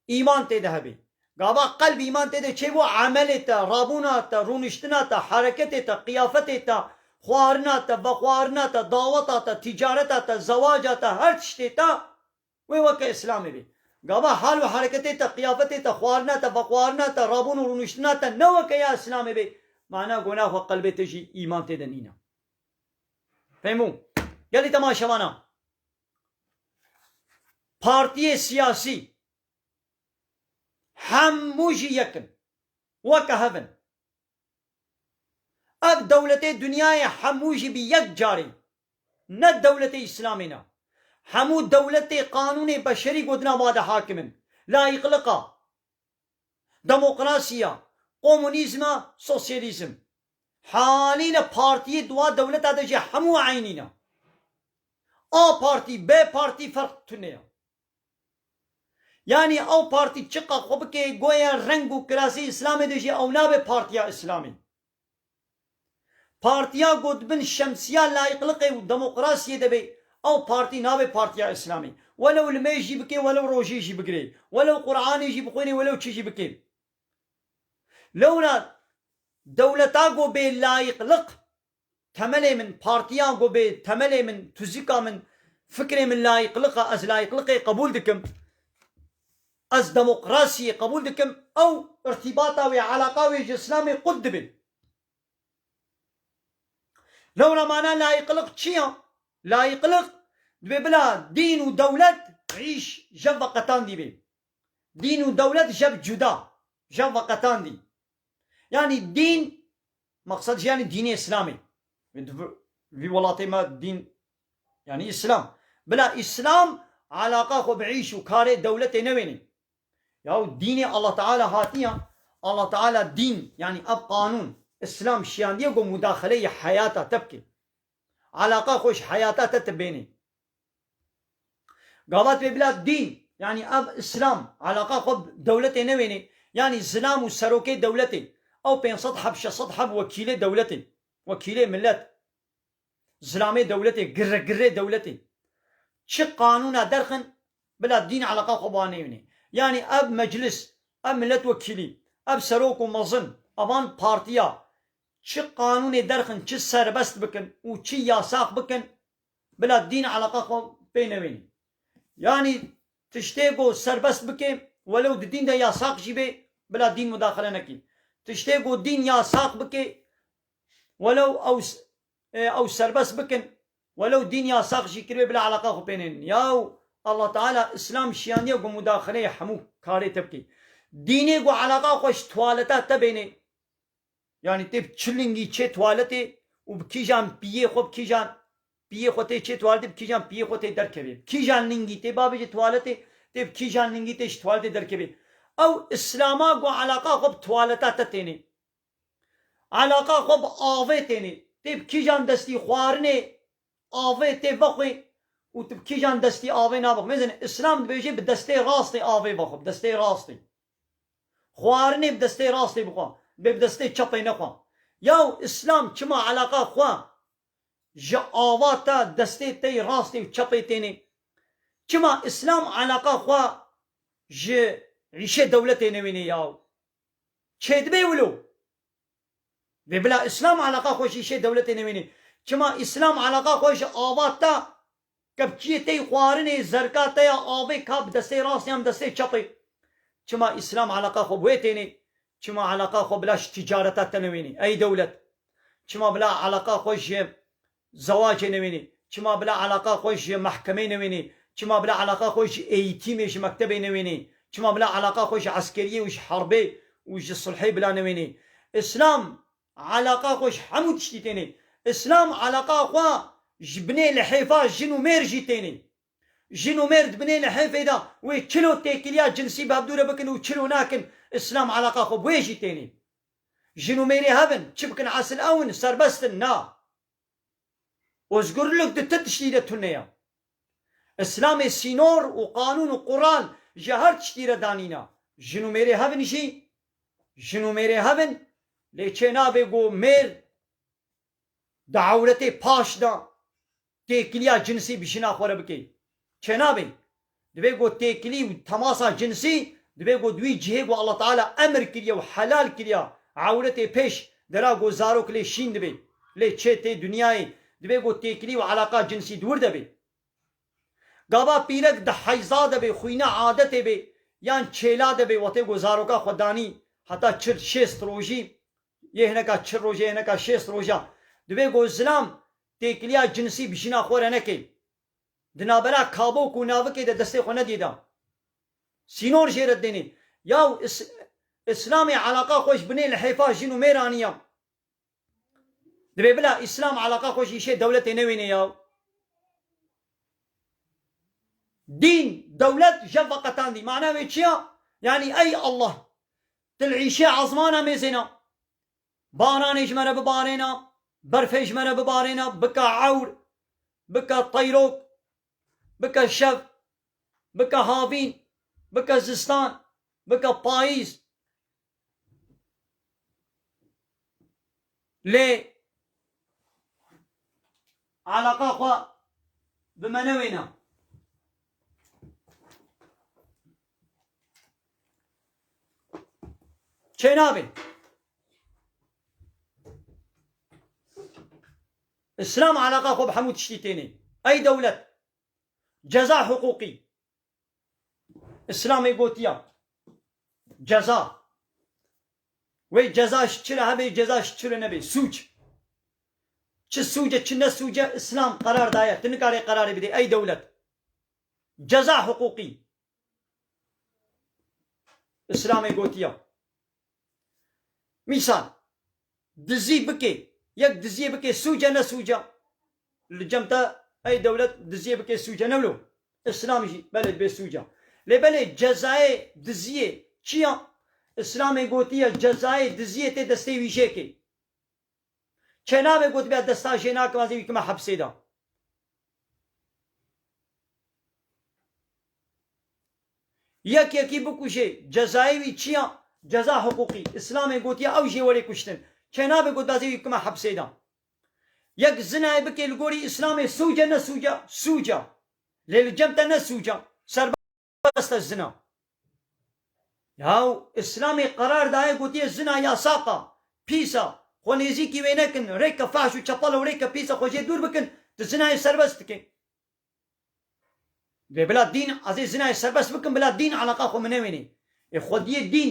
Îman tê de hebî. Gava qelb îman tê de çêbû emelê te, rabûna te, rûniştina te, hereketê te, qiyafetê te, xwaharina te, vexwaharina te, daweta te, tîcareta te, zewaca te, her tiştê te wê weke Îslamê bî. Gava hal û hereketê te, qiyafetê te, xwaharina te, vexwaharina te, rabûn û rûniştina te ne weke ya Îslamê bê, mana gona xwe qelbê te jî îman tê de nîne. Fêhm bû? Gelê te ma şevana. Partiyê siyasî hemû jî yek in, weke hev in. Ev dewletê dinyayê hemû jî bi yek carî ne dewletê îslamî ne. Hemû dewletê qanûnê beşerî gotina ma de hakim in. Layiqliqa. Demokrasiya, komûnîzm a sosyalîzm. Halîne partiyê di wa dewleta de jî hemû eynî ne. A partî, B partî ferq tune ye. Yanî ew partî çiqas xwe bike goya reng û kilasê îslamê de jî ew nabe partiya îslamê. Partiya ku di bin şemsiya layîqliqê û demokrasiyê de bê, ew partî nabe Partiya Îslamî. Welew limêj jî bikê, welew rojê jî bigirê, welew Quranê jî bixwînê, welew çi jî bikê. Lewra dewleta ku bê layîqliq Temelê min partiya ku bê temelê min, tuzika min, fikrê min layîqlik e, ez layîqlikê qebûl dikim, ez demokrasiyê qebûl dikim, ew irtîbata wê, eleqa wê ji îslamê qut dibe. Lewra mana layîqlik çi ye? Layîqlik dibê bila dîn û dewlet îş jev ve qetandî bê. Dîn û dewlet jev cuda, jev ve qetandî. Yanî dîn maqsed jî yanî dînê îslamê. Vî welatê me dîn yanî îslam. Bila îslam eleqa xwe bi îş û karê dewletê newênê. Yaw dînê Allah Teala hatiya, Allah Teala dîn yanî ev qanûn, îslam şiyandiye ku mudaxeleyê heyata te bike. Eleqa xwe ji heyata te tibênê. Gavat pê bila dîn yanî ev îslam eleqa xwe bi dewletê newênê yanî zilam û serokê dewletê ew pênc sed heb şeş sed heb wekîlê dewletê wekîlê milet zilamê dewletê girre girrê dewletê çi qanûna derxin bila dîn eleqa xwe bi wan neyênê yanî ev meclis ev milet wekîlî ev serok û mezin evan partiya çi qanûnê derxin çi serbest bikin û çi yasax bikin Bila dîn eleqa xwe pê newênî. Yanî tiştê ku serbest bikê welew di dîn de yasaq jî bê bila dîn mudaxile nekî. Tiştê ku dîn yasaq bikê welew ew ew serbest bikin welew dîn yasaq jî kiribê bila eleqa xwe pê nênîn. Yaw Allah Teala Îslam şiyandiye ku mudaxileyê hemû karê te bikê. Dînê ku eleqa xwe ji tuwaleta te bênê. Yanî tê bi çilingî çê tuwaletê û bi kîjan piyê xwe bi kîjan piyê xwe tê çê tuwaletê bi kîjan piyê xwe tê derkevê. Bi kîjan lingî tê babêje tuwaletê tê bi kîjan lingî tê ji tuwaletê derkevê. Ew îslama ku eleqa xwe bi tuwaleta te tênê. Eleqa xwe bi avê tênê. Tê bi kîjan destî xwarinê avê tê vexwê û tu bi kîjan destî avê navexwî. Mêzin îslam dibêje bi destê rastê avê vexwe bi destê rastê. Xwarinê bi destê rastê bixwe, bê bi destê çepê nexwe. Yaw Îslam çima eleqa xwe ji avata destê tey rastê û çepê têne? Çima Îslam eleqa xwe ji îşê dewletê newêne yaw? Çêdibê wilo? Vê bila Îslam eleqa xwe ji îşê dewletê newênê. Çima Îslam eleqa xwe ji ava te, kepçiyê te yî xwarinê, zerka te ya avê ka bi destê rastê yan bi destê çepê. Çima Îslam eleqa xwe bi wê tênê. Çima eleqa xwe bila ji tîcareta te newênê. Ey dewlet. Çima bila eleqa xwe ji Zewacê newênî, çima bila eleqa xwe ji mehkemeyê newênî, çima bila eleqa xwe ji eîtîmê ji mektebê newênî, çima bila eleqa xwe ji eskeriyê û ji herbê û ji sulhê bila newênî. Îslam eleqa xwe ji hemû tiştî tênî. Îslam eleqa xwe ji binê lihêfa jin û mêr jî tênî. Jin û mêr di binê lihêfê de wê çilo têkiliya cinsî bi hevdû re bikin û çilo nakin, Îslam eleqa xwe bi wê jî tênî. Jin û mêrê hev in, çi bikin esil ew in, serbest in. Na. Ozgurlik di ti tiştî de tune ye. Îslamê sînor û qanûn û qural ji her tiştî re danîna. Jin û mêrê hev in jî jin û mêrê hev in, lê çênabe ku mêr di ewretê paş de, Têkiliya cinsî bi jina xwe re bike çênabê. Divê ku têkilî û temasa cinsî divê ku di wî cihê ku Allah Teala emr kiriye û helal kiriya ewretê pêş de ra ku zarok lê şîn dibe. Lê çê tê dinyayê divê ku têkilî û eleqa cinsî dûr de be. Gava pîrek di heyza de be, xwîna adetê be yan çêla de be wextê ku zaroka xwe danî heta çil şêst rojî yê hineka çil rojê yê hineka şêst roja divê ku zilam Têkiliya cinsî bi jina xwe re neke. Di navbera kabok û navikê de destê xwe nedî da. Sînor jê re didêne. Yaw Îslamê eleqa xwe ji binê li hêfa jin û mêr aniya. Divê bila Îslam eleqa xwe ji îşê dewletê newêne yaw. Dîn, dewlet jev veqetandî. Mana wê çi ya? Yanî ey Allah! Tu li îşê ezmana mêzê na. Baranê ji me re bibarêna, berfê ji me re bibarêna, bike ewr, bike teyrok, bike şev, bike havîn, bike zistan, bike payîz. Lê eleqa xwe bi me newêna. Çênavê İslam alaka xwe bi hemû tiştî tênê. Ey dewlet ceza hiqûqî İslamê gotiya ceza wê ceza ji çi re hebê ceza ji çi re nebê sûc çi sûce çi ne sûce İslam qerar daye tu nikarê qerarê bidê ey dewlet Ceza hiqûqî Îslamê gotiya, mîsal dizî bikê, yek diziyê bikê sûc e ne sûc e. Li cem te ey dewlet diziyê bikê sûc e ne wilo. Îslam jî belê bê sûc e. Lê belê cezayê diziyê çi ya? Îslamê gotiye cezayê diziyê tê destê wîjekê. Çêna ve gotibe destan jê nakim ez ê wî kime hepsê de. Yek yekî bikujê cezayê wî çi ya? Ceza hiqûqî. Îslamê gotiye ew jê werê kuştin. Çêna ve gotibe ez ê wî bikime hepsê de. Yek zinayê bikê li gorî Îslamê sûc e ne sûc e? Sûc e. Lê li cem te ne sûc e. Serbaz. weste zina. Yaw Îslamê qerar daye gotiye zina yasak a, pîs a, xwe nêzîkî wê nekin, rêke fahş û çepal û rêke pîs e xwe jê dûr bikin, tu zinayê serbest dike. Dê bila dîn ezê zinayê serbest bikim bila dîn eleqa xwe min newênê. Ê xwediyê dîn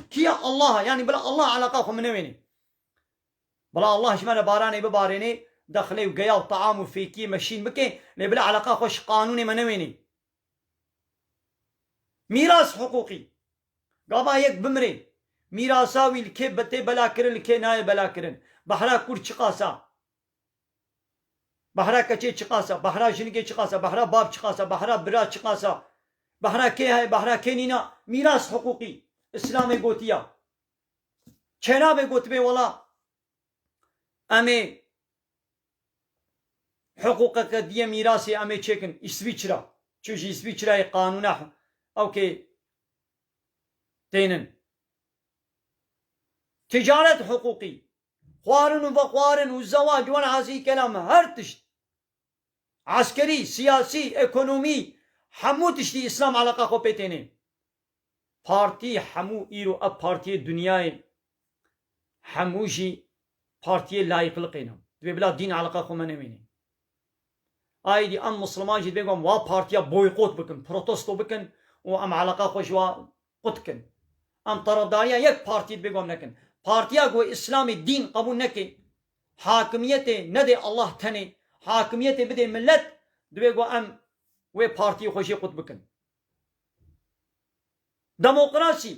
kî ye Allah e yanî bila Allah eleqa xwe min newênê. Bila Allah ji me re baranê bibarênê, dexilê û geya û taam û fêkiyê me şîn bike lê bila eleqa xwe ji qanûnê me newênê. Mîras hiqûqî, Gava yek bimire, mîrasa wî li kê tê belakirin li kê nayê belakirin. Behra kûr çiqas a? Behra keçê çiqas a? Behra jinigê çiqas a? Behra bav çiqas a? Behra bira çiqas a? Behra kê heye? Behra kê nîn a? Mîras hiqûqî, Îslamê gotiya, çênabe gotibê wela em ê Hiqûqeke diyê mîrasê em ê çêkin Îsvîçra. Çi ji Îsvîçrayê qanûna ewkê tênin. Ticaret hiqûqî, xwarin û vexwarin û zewac wen hezî kelam her tişt. Eskerî, siyasî, ekonomî hemû tiştî îslam eleqa xwe pê têne. Partî hemû îro ev partîyê dinyayê hemû jî partîyê layîqliqê ne. Divê bila dîn eleqa xwe me newêne. Aîdî em musliman jî divê ku em wa partîya boykot bikin, protesto bikin û em eleqa xwe ji wa qut dikin. Em tarafdarîya yek partî dibê ku em nekin. Partîya ku îslamê dîn qebûl neke, hakimiyetê nedê Allah tenê, hakimiyetê bidê milet, dibê ku em wê partîyê xwe jê qut bikin. Demokrasî,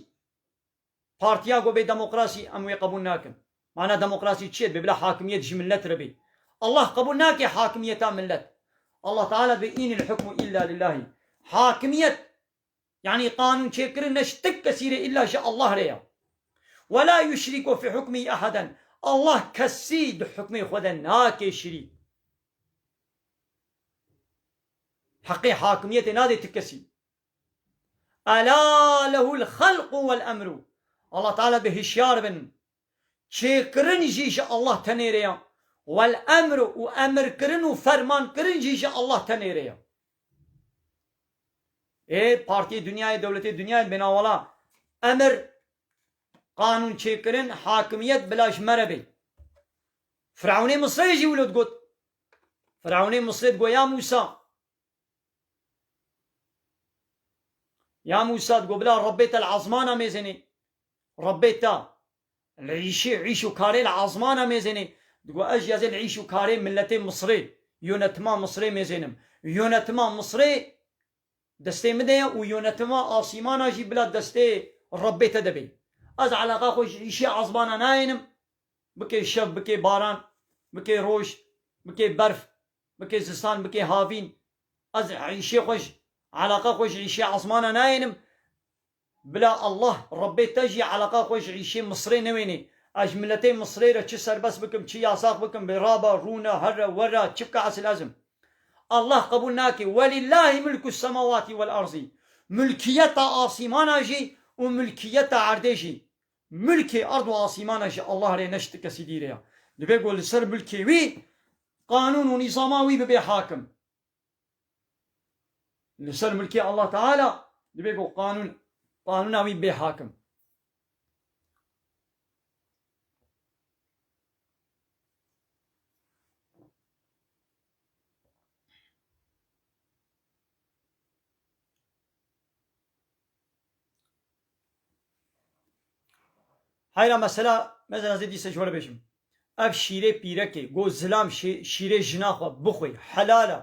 partîya ku bê demokrasî em wê qebûl nakin. Mana demokrasî çi ye? Dibê bila hakimiyet ji milet re bê. Allah qebûl nake hakimiyeta milet. Allah Teala dibê Inil hukmu illa lillahî. Hakimiyet Yanî qanûnçêkirin ne ji ti kesî rê îlla ji Allah rê ya. Wela yuşrîku fî hukmî eheden, Allah kesî di hukmê xwe de nake şirîk. Heqê hakimiyetê nadê ti kesî. Ela lehul xelqu wel emru, Allah Teala bi hişyar bin, çêkirin jî ji Allah tenê rê ya, wel emru û emirkirin û fermankirin jî ji Allah tenê rê ya. Ê Partiyê Dinyayê Dewletê Dinyayên Bênawala, Emir, Qanûnçêkirin, Hakimiyet bila ji me re bê. Firewnê Misirê jî wilo digot. Firewnê Misirê digot ya Mûsa. Ya Mûsa digot bila Rebbê te li esmanan mêzenê. Rebbê te. Rîşê îş û karê li azmana mêzênê digo ez jî ez ê li îş û karê miletê Misirê, yonetima Misirê mêzênim. Yonetima Misirê destê min de ye û yonetima asîmana jî bila destê Rebbê te de bê. Ez eleqa xwe ji îşê azmana nayênim, bikê şev, bikê baran, bikê roj, bikê berf, bikê zistan, bikê havîn, ez îşê xwe ji eleqa xwe ji îşê azmana nayênim. Bila Allah Rebbê te jî eleqa xwe ji rîşê Misirê newênê. Ez ji miletê Misirê re çi serbest bikim, çi yasax bikim, bi ra be, rûne, herre, werre, çi bike esil ez im. Allah qebûl nake. Welîllâhi mulku semawati wel arzî. Mulkiyeta asîmanan jî û mulkiyeta erdê jî. Mulkê erd û asîmanan ji Allah re ne ji ti kesî dî re ya. Divê ku li ser mulkê wî, qanûn û nîzama wî bibê hakim. Li ser milkê Allah Teala dibe ku qanûn, qanûna wî bê hakim. Heyra mesela mezin ez ê dîsa ji we re bêjim. Ev şîrê pîrekê got zilam şê şîrê jina xwe bixwe helal e.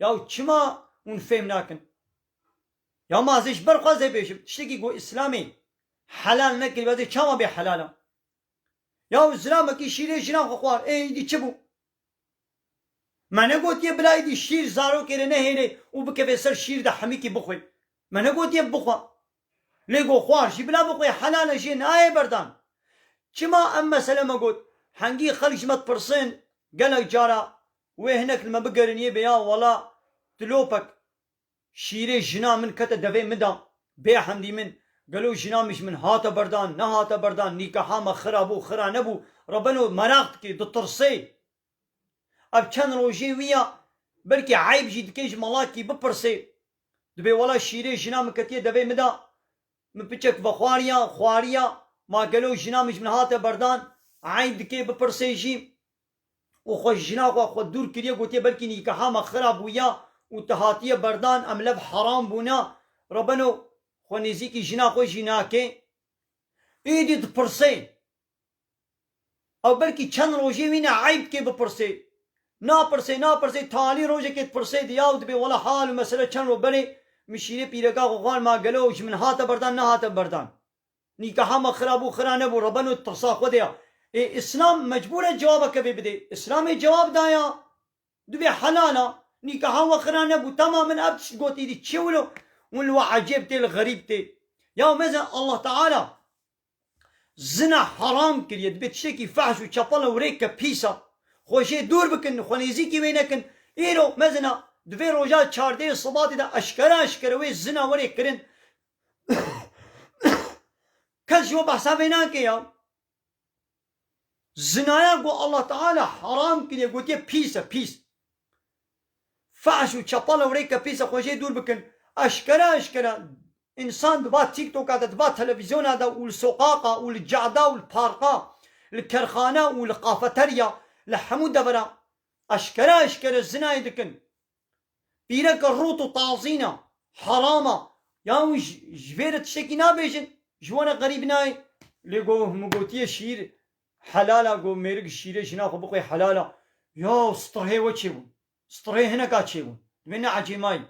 Ya û çima hûn fêm nakin? Ya ma ez ê ji ber xwe ez ê bêjim. Tiştekî ku îslamê helal nekiribe ez ê çawa bê helal a? Ya û zilamekî şîrê jina xwe xwar ê îdî çi bû? Me negotiye bila êdî şîr zarokê re nehêlê û bikeve ser şîr de hemikî bixwe. Me negotiye bixwe. Lê got xwar jî bila bixwe helal e jê nayê berdan. Çima em mesele me got. Hengî xelk ji me dipirsin gelek cara wê hinek li me bigerînîyê bê ya wela dilopek Şîrê jina min kete devê min de. Bê hemdî min, gelo jina min ji min hate berdan, nehate berdan, nîkaha me xira bû, xira nebû, re beno meraq dike, ditirsê. Ev çend rojê wî ye, belkî eyb jî dike ji Malakî bipirsê. Dibê wela şîrê jina min ketiye devê min de, min piçek vexwariya, xwariya, ma gelo jina min ji min hate berdan, eyb dike bipirsê jî. û xwe ji jina xwe xwe dûr kiriye gotiye belkî nîkaha me xira bûya û tu hatiye berdan em lev heram bûne re beno xwe nêzîkî jina xwe jî nake. Êdî dipirse ew belkî çend rojê wî ne eyb dike bipirse. Napirse napirse talî rojekê dipirse diya û dibe wela hal û mesele çend roj berê min şîrê pîreka xwe xwarm a gelo ji min hate berdan nehate berdan. Nîkaha me xirab û xira nebû re beno tasa xwe de ya. Ê îslam mecbûr e cewabeke vê bide. Îslamê cewab da ya. Tu bê helal a. Nîkaha we xira nebû. Tamam min ev tişt got îdî çi wilo hûn li we ecêb tê li xerîb tê. Ya mezin Allah Teala zina heram kiriye. Dibe tiştekî fehş û çepe li wrêk ke pîs a. Xwe jê dûr bikin, xwe nêzîkî wê nekin. Îro mezin a di vê roja çardeyê sibatê de eşkere eşkere wê zina were kirin. Kes ji we behsa vê nake ya. Zinaya ku Allah Teala heram kiriye gotiye pîs e pîs. Fahş û çepal e wrêke pîs e xwe jê dûr bikin. Eşkere eşkere însan di va tîktoka de di va televîzyona de û li soqaqa û li cada û li parka li kerxane û li qafeterya li hemû deveran eşkere eşkere zinayê dikin. Pîreke rût û tazîn e, heram e. Yan wî ji vê re tiştekî nabêjin, ji wan e qerîb nayê. Lê got min gotiye şîr helal e, got mêrik şîrê jina xwe bixwe helal e. Yaw strihê we çêbûn, strihê hineka çêbûn. Divê neecê mayî.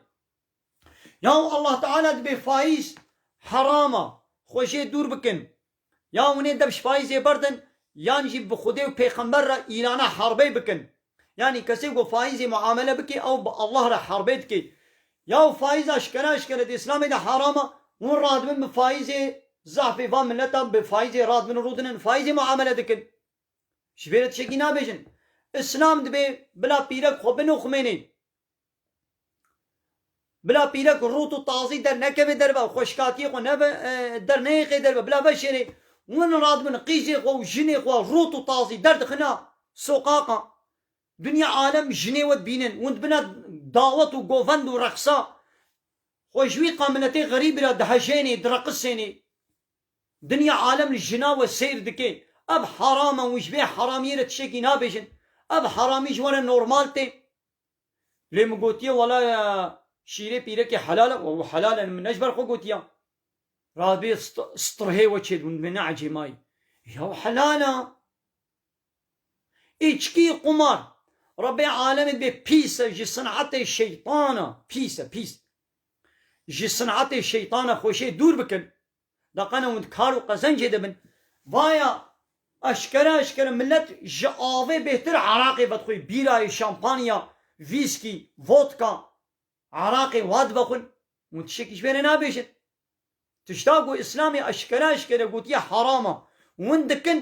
Yaw Allah Teala dibê fayîz heram e, xwe jê dûr bikin. Ya hûnê dev şifayî zêberdin yan jî bi Xwedê û pêxember re îlana herbey bikin. Yanî kesê ku faîzê muamele bikê ew bi Allah re herbey dikê. Ya û faîz aşkera eşkere di îslamê de haram e. Hûn radibin bi faîzê zahfê van mileta bi faîzê radibin û rûdinin faîzê muamele dikin. Ji vê re tişekî nabêjin. Îslam dibê bila pîrek xwe binoximênê. Bila pîrek û rût û tazî dernekeve derve û xweşikatiyê xwe nebe derneyêxe derve. Bila veşêrê win radibin qîzê xwe û jinê xwe rût û tazî derdixina soqaqa. Dinya alem jinê we dibînin, win dibina dawet û govend û reqsa. Xwe ji wî qa miletê xerîbî re dihejênê, direqisênê. Dinya alem li jina we sêr dike. Ev heram e, win ji vê heramiyê re tiştekî nabêjin. Ev heramî ji we re normal tê. Lê min gotiye wala şîrê pîrekê helal e û helal e min ne ji ber xwe gotiyan. Rabê strhê we çêdibûn divê neecê mayî. Ya helal a. Îçkî, qumar, Rebê alemê divê pîs e ji sinetê şeytan e, pîs e pîs. Ji sinetê şeytan e xweşê dûr bikin. Daqana hûn di kar û qezencê de bin, vaya eşkere eşkere milet ji avê bêhtir eraqê vedixwî, bîrayê, şampanya, vîskî, vodka, eraqê wa dibe xwin. Hûn tiştekî ji vê re nabêjin. Tişta ku îslamê eşkere eşkere gotiye heram e, hûn dikin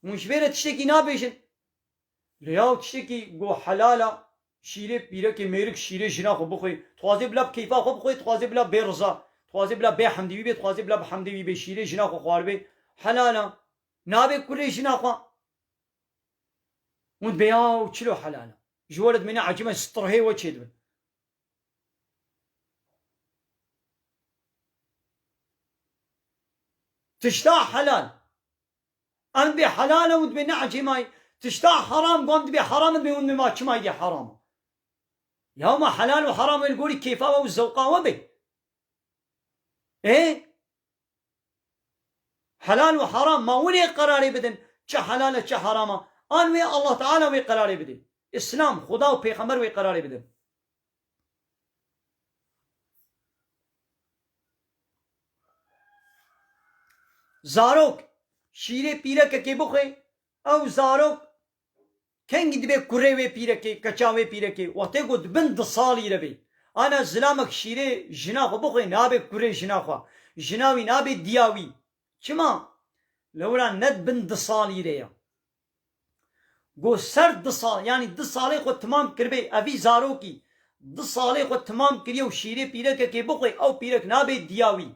Hûn ji vê re tiştekî nabêjin. Lê yaw tiştekî go helal a, şîrê pîrekê mêrik şîrê jina xwe bixwe, dixwaze bila bi keyfa xwe bixwe, dixwaze bila bê riza, dixwaze bila bê hemdê wî bê, dixwaze bila bi hemdê wî bê, şîrê jina xwe xwaribe helal a. Nabê kulê jina xwe. Hûn dibê yaw çilo helal a. Ji we re dimîne ecême strhê we çêdibin. Tişta helal. Ew dibê helal e hûn dibê neecêmayî, tişta heram got dibê heram e dibê hûn dibê ma çimayî dê heram e. Ya hema helal û heram e li gorî kêfa we û zewqa we be. Ê helal û heram ma winê qerarê bidin çi helal e çi heram e an wê Allah Teala wê qerarê bidê, Îslam, Xuda û pêxember wê qerarê bidin. Zarok şîrê pîrekekê bixwe ew zarok kengî dibe kurê wê pîrekê, keça wê pîrekê wextê ku di bin di salî de bê. Ana zilamek şîrê jina xwe bixwe nabe kurê jina xwe, jina wî nabe dîya wî. Çima? Lewra ne di bin di salî de ye. Ku ser du sal yanî du salê xwe timam kiribê ev vî zarokî du salê xwe timam kiriye û şîrê pîrekekê bixwe ew pîrek nabê diya wî.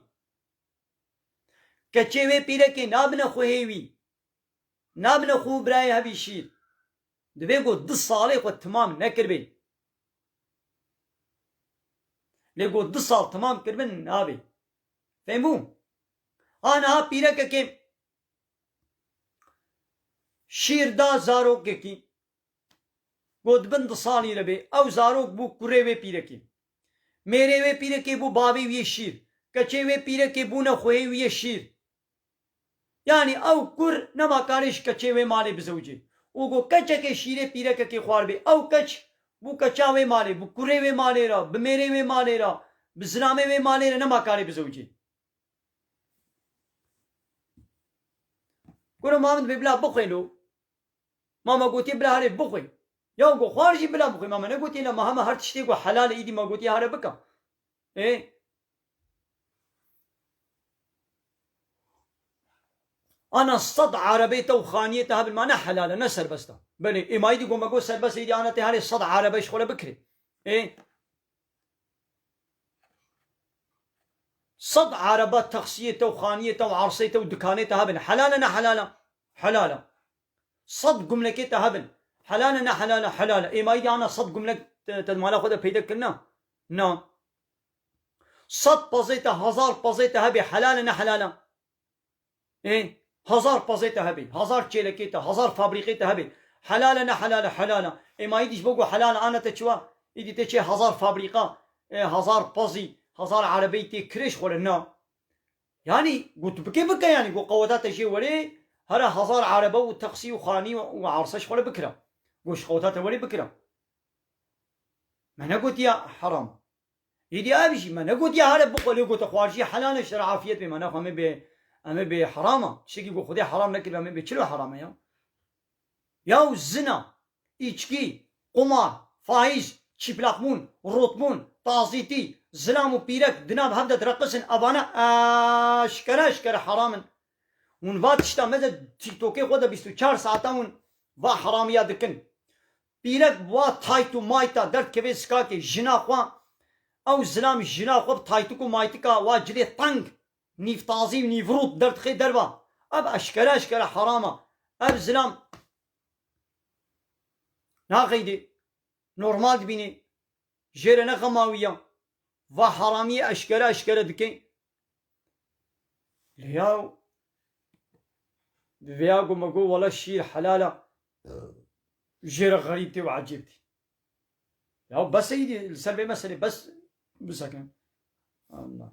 Keçê wê pîrekê nabine xwe hê wî. Nabine xwe û birayê hevî şîr. Divê ku du salê xwe timam nekiribê. Lê ku du sal timam kiribin nabê. Fêhm bû? Ha niha pîrekekê. Şîr da zarokekî. Got di bin du salî de bê. Ew zarok bû kurê wê pîrekê. Mêrê wê pîrekê bû bavê wî yê şîr. Keçê wê pîrekê bûne xwehê wî yê şîr. Yanî ew kur nema karê ji keçê wê malê bizewicê. Û got keçekê şîrê pîrekekê xwarbê. Ew keç bû keça wê malê. Bi kurê wê malê re, bi mêrê wê malê re, bi zilamê wê malê re nema karê bizewicê. Guru ma min bila bixwê lo. Ma me gotiye bila herê bixwê. Ya go xwar jî bila bixwê. Ma me negotiye la ma heme her tiştê ku helal e îdî ma gotiye here bika. Ê Ana sed erebê te û xaniyê te hebin ma ne helal e ne serbest e. Belê ê ma îdî go me got serbest e îdî ana tê herê sed erebe ji xwe re bikirê. Ê Sed araba taksiyê te û xaniyê te û erseyê te û dikanê te hebin, helal e ne helal e? Helal e. Sed gumlekê te hebin, helal e ne helal e? Helal e. Êmayî de ana sed gumlek te di mala xwe de peyde kirina? Na. Sed pezê te, hezar pezê te hebê, helal e ne helal e? Ê hezar pezê te hebê, hezar çêlekê te, hezar fabrîqê te hebê. Helal e ne helal e helal e. Ê ma îdî ji bo ku helal e ana te çiwa? Îdî te çê hezar fabrîqa, ê hezar pezî, hezar erebeyî tê kirê ji xwe re na. Yanî ku tu bikê bike yanî ku qeweta te jê werê here hezar erebe û teksî û xanî û erse ji xwe re bikire. Ku ji qeweta te werê bikire. Me negotiye heram. Êdî ev jî me negotiye here bixwe lê gote xwarijî helal e ji ra afiyet bê mana xwe em ê bê em ê bê heram a tiştekî ku xwedê heram nekiribe em ê bê çilo heram e ya. Yaw zina, îçkî, qumar, faiz, çîplaqbûn, rotbûn, tazîtî, zilam û pîrek di nav hev de direqisin evane eşkere eşkere heram in. Hûn va tişta me de TikTokê xwe de bîst û çar saetan hûn va heramiya dikin. Pîrek bi wa tayt û mayta derdikeve zikakê jina xwe, ew zilam jina xwe bi taytik û maytika wa cilê teng, nîvtazî û nîvrût derdixe derva. Ev eşkere eşkere heram e. Ev zilam naxeyde normal dibîne. Jêre ne xema wî ya. Va heramiyê eşkere eşkere dike. Lê ya bi vê ya go me go wele şîr helal a. Jêre xerîb tê û ecêb tê. Ya bes e îdî li ser vê meselê bes biseke. Allah.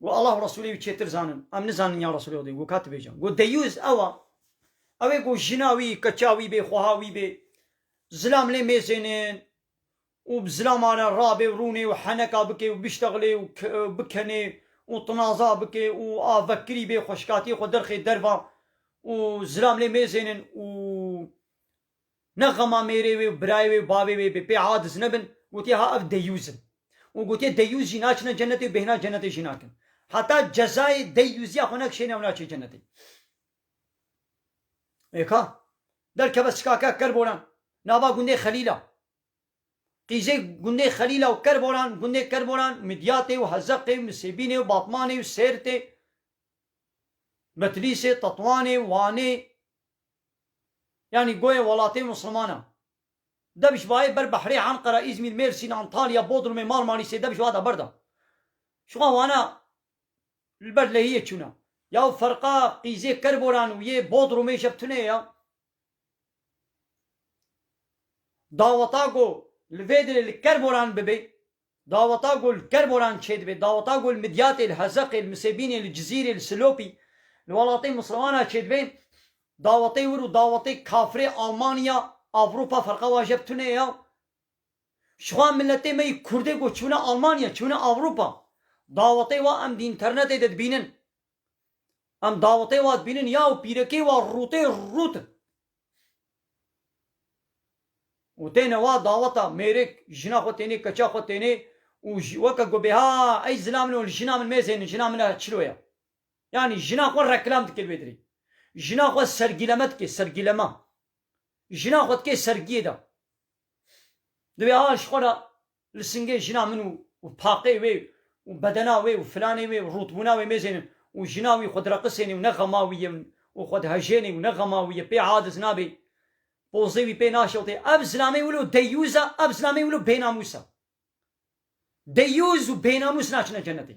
Go Allah û Resûlê wî çêtir zanin. Em nizanin ya Resûlê Xwedê go ka tu bêje. Go Deyûz ew a. Ew ê go jina wî, keça wî bê, xweha wî bê. Zilam lê mêzênin û bi zilama re rabê û rûnê û heneka bikê û biştexilê û bikenê û tinaza bikê û a vekirî bê xweşikatiyê xwe derxê derva û zilam lê mêzênin û Ne xema mêrê wê û birayê wê û bavê wê bê pê a diz nebin, gotiye ha ev deyyûz in. Û gotiye deyyûz jî naçine cenetê û bêhna cenetê jî nakin. Heta cezayê deyyûziya xwe nekişêne ew naçe cenetê. Ê ka. Derkeve sikakek Kerboran, nava gundê Xelîl a. Qîzê gundê Xelîl a û Kerboran, gundê Kerboran, Midyatê û Hezeqê û Misêbînê û Batmanê û Sêrtê, Betlîsê, Tetwanê, Wanê, Yanî goyê welatê musliman e. Debiş vaê ber Behrê, Enqera, Îzmîr, Mêrsîn, Antalya, Bodrumê, Marmarîsê debiş vada ber de. Şiwan wana li ber lehiyê çûne. Yaw ferqa qîzê Kerboran û yê Bodrumê jeb tune ye. Daweta ku li vê dilê li Kerboran bibê Daweta ku li Kerboran çêdibe, daweta ku li Midyatê, li Hezeqê, li Misêbînê, li Cizîrê, li Silopî, li welatên Mislimanan çêdibe, dawetê wir û dawetê kafirê Almanya, Avrupa ferqa waje bi tune ya. Jixwe miletê me yê Kurdê ku çûne Almanya, çûne Avrupa, dawetê wa em di înternetê de dibînin. Em dawetê we dibînin ya û pîrekê we rûtê rût in. Û têne wa daweta mêrik, jina xwe tênê, keça xwe tênê û weke ku bêha ey zila min û jina min mêzên in, jina min e çilo ye. Yanî jina xwe reklam dike li wê dirê. Jina xwe sergîleme dike, sergîleme. Jina xwe dike sergiyê de. Divê ha ji xwe re Li Singê jina min û paqê wê û bedena wê û filanê wê û rûtbûna wê mêzênin û jina wî xwe direqisênê û ne xema wî ye û xwe dihejênê û ne xema wî ye pê adiz nabê, pozê wî pê naşewtê. Ev zilamê wilo deyyûz e, ev zilamê wilo bênamûs e. Deyyûz û bênamûs naçine cenetê.